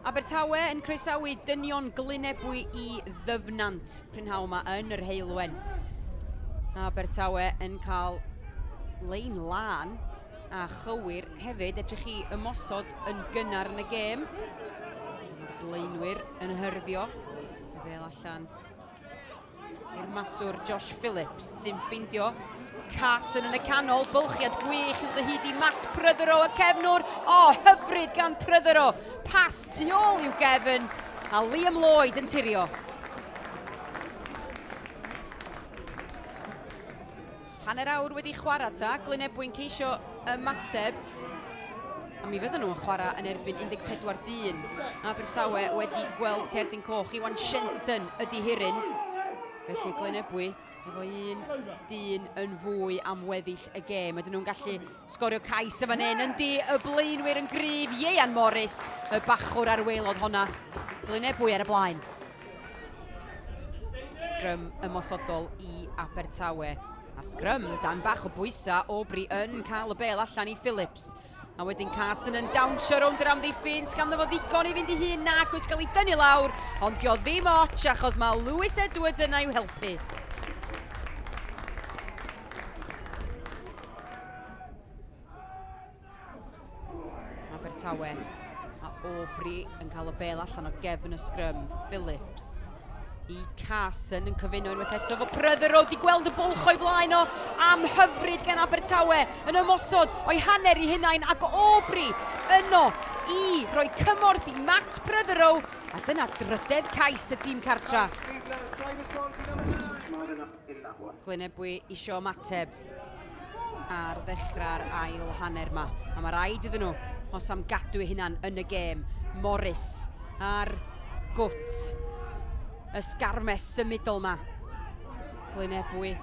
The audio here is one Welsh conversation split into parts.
Abertawe yn croesawu dynion Glynebwy i Ddyfnant prynhawn yma yn yr Heulwen. Abertawe yn cael lein lân a chywir hefyd. Edrych chi ymosod yn gynnar yn y gêm. Blaenwyr yn hyrddio. Fel allan i'r maswr Josh Phillips sy'n ffeindio Carson yn y canol, bylchiad gwych i'w dyhyd i Matt Pryddero y cefnwr. O, oh, hyfryd gan Pryddero, pas tu ôl i'w gefn, a Liam Lloyd yn tirio. Hanner awr wedi chwarae ta, Glyn Ebwyn ceisio ymateb, a mi fydden nhw'n chwarae yn erbyn 14 dyn. Abertawe wedi gweld cerdyn coch, Iwan Shenton ydi hiryn. Felly Glyn Ebwy efo un dyn yn fwy am weddill y gêm. Ydyn nhw'n gallu Sgorio cais yn fan hyn, yndi, y blaenwyr yn gryf, Ieuan Morris, y bachwr a'r waelod honna. Glynebwy ar y blaen. Sgrym ymosodol i Abertawe. A'r sgrym, dan bach o bwysa, Aubrey yn cael y bel allan i Phillips. A wedyn Carson yn dawnsio rownd yr amddiffyn, sgan fo ddigon i fynd i hun nag oes cael ei dynnu lawr, ond dio ddim ots achos mae Lewis Edwards yna i'w helpu. Abertawe a Aubrey yn cael y bel allan o gefn y sgrym. Phillips i Carson yn cyfuno unwaith eto fo Pryther o di gweld y bwlch o'i flaen o am hyfryd gan Abertawe yn ymosod o'i hanner i hunain ac Aubrey yno i roi cymorth i Matt Pryther o a dyna drydedd cais y tîm cartra. Glynebwy isio ymateb ar ddechrau'r ail hanner yma. A mae rhaid iddyn nhw os am gadw eu hunan yn y gêm. Morris ar gwt y sgarmes symudol yma. Glynebwy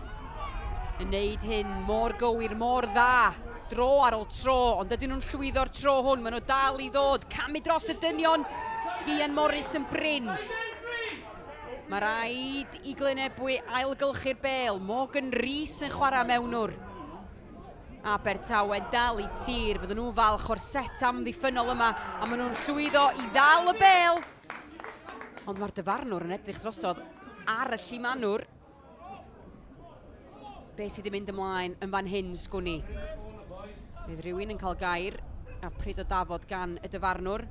yn neud hyn mor gywir, mor dda, dro ar ôl tro, ond ydyn nhw'n llwyddo'r tro hwn, maen nhw dal i ddod, camu dros y dynion, Gian Morris yn brin. Mae rhaid i Glynebwy ailgylchu'r bêl. Morgan Rees yn chwarae mewnwr. Abertawe'n dal i tir. Fydden nhw'n falch o'r set amddiffynol yma a maen nhw'n llwyddo i ddal y bêl. Ond mae'r dyfarnwr yn edrych drosodd ar y llimanwr. Be sydd wedi mynd ymlaen yn fan hyn, sgwn i? Bydd rhywun yn cael gair a pryd o dafod gan y dyfarnwr.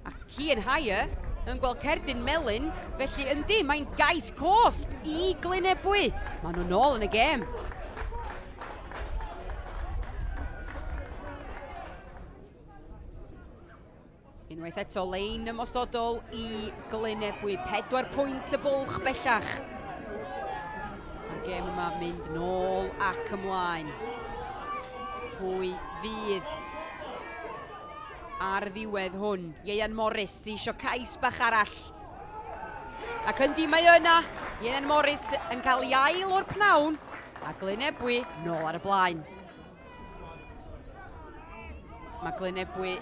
A Cian Haya yn gweld cerdyn melyn, felly yndi, mae'n gais cosb i Glynebwy. Maen nhw'n ôl yn y gêm. Unwaith eto, lein ymosodol i Glyn Ebwy. Pedwar pwynt y bwlch bellach. Mae'r gêm yma mynd nôl ac ymlaen. Pwy fydd ar ddiwedd hwn? Ieian Morris i sio cais bach arall. Ac yndi mae yna, Ieian Morris yn cael ei ail o'r pnawn, a Glyn Ebwy nôl ar y blaen. Mae Glynebwy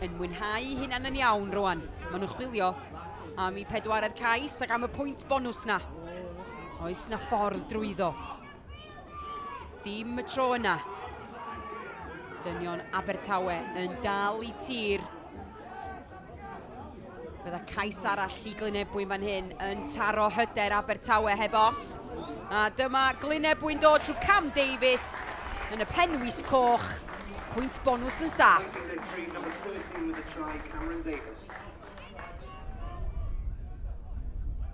yn mwynhau hynna'n yn iawn rwan. Maen nhw'n chwilio am i pedwaredd cais ac am y pwynt bonws na. Oes na ffordd drwyddo. Dim y tro yna. Dynion Abertawe yn dal i tir Bydda cais arall i Glynebwyn fan hyn yn taro hyder Abertawe heb os. A dyma Glynebwyn dod trwy Cam Davies yn y penwys coch. Pwynt bonws yn saff.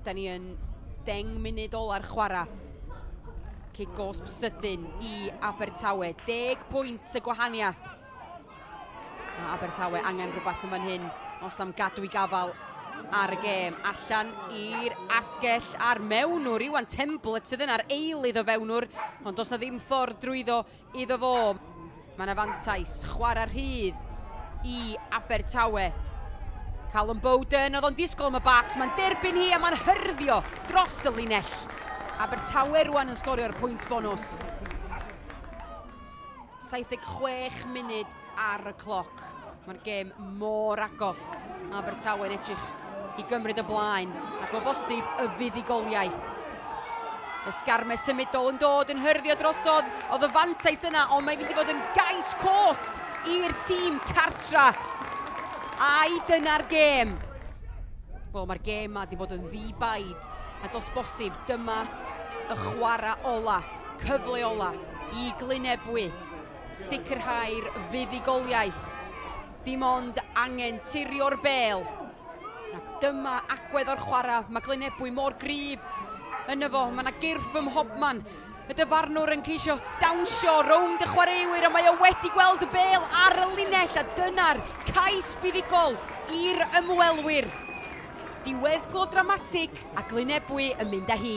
Da ni yn deng munud ola'r chwarae. Cig gosb sydyn i Abertawe. Deg pwynt y gwahaniaeth. Mae Abertawe angen rhywbeth yn fan hyn os am gadw i gafal ar y gêm. Allan i'r asgell a'r mewnwr, Iwan Temblett sydd yna'r eilydd o fewnwr, ond does na ddim ffordd drwyddo iddo fo. Mae yna fantais, chwarae rhydd i Abertawe. Callum Bowden, oedd o'n disgwyl am y bas, mae'n derbyn hi a mae'n hyrddio dros y linell. Abertawe rwan yn sgorio'r pwynt bonus. 76 munud ar y cloc. Mae'r gêm mor agos. Mae Abertawe'n edrych i gymryd y blaen ac o bosib y fuddugoliaeth. Ysgarme symudol yn dod yn hyrddio drosodd. Oedd y fantais yna, ond mae'n mynd i fod yn gais cosb i'r tîm cartra. Ai dyna'r gêm? Wel, mae'r gêm ma wedi bod yn ddi-baid, a dos bosib, dyma y chwarae ola. cyfleolau i glynebwy, sicrhau'r fuddugoliaeth, dim ond angen tirio'r bêl, a dyma agwedd o'r chwarae, mae glynebwy mor gryf yn y fo, mae yna gyrff ym mhobman, y dyfarnwr yn ceisio dawnsio rownd y chwaraewyr a mae o wedi gweld y bêl ar y linell a dyna'r cais buddugol i'r ymwelwyr. Diweddglo dramatig a glynebwy yn mynd â hi.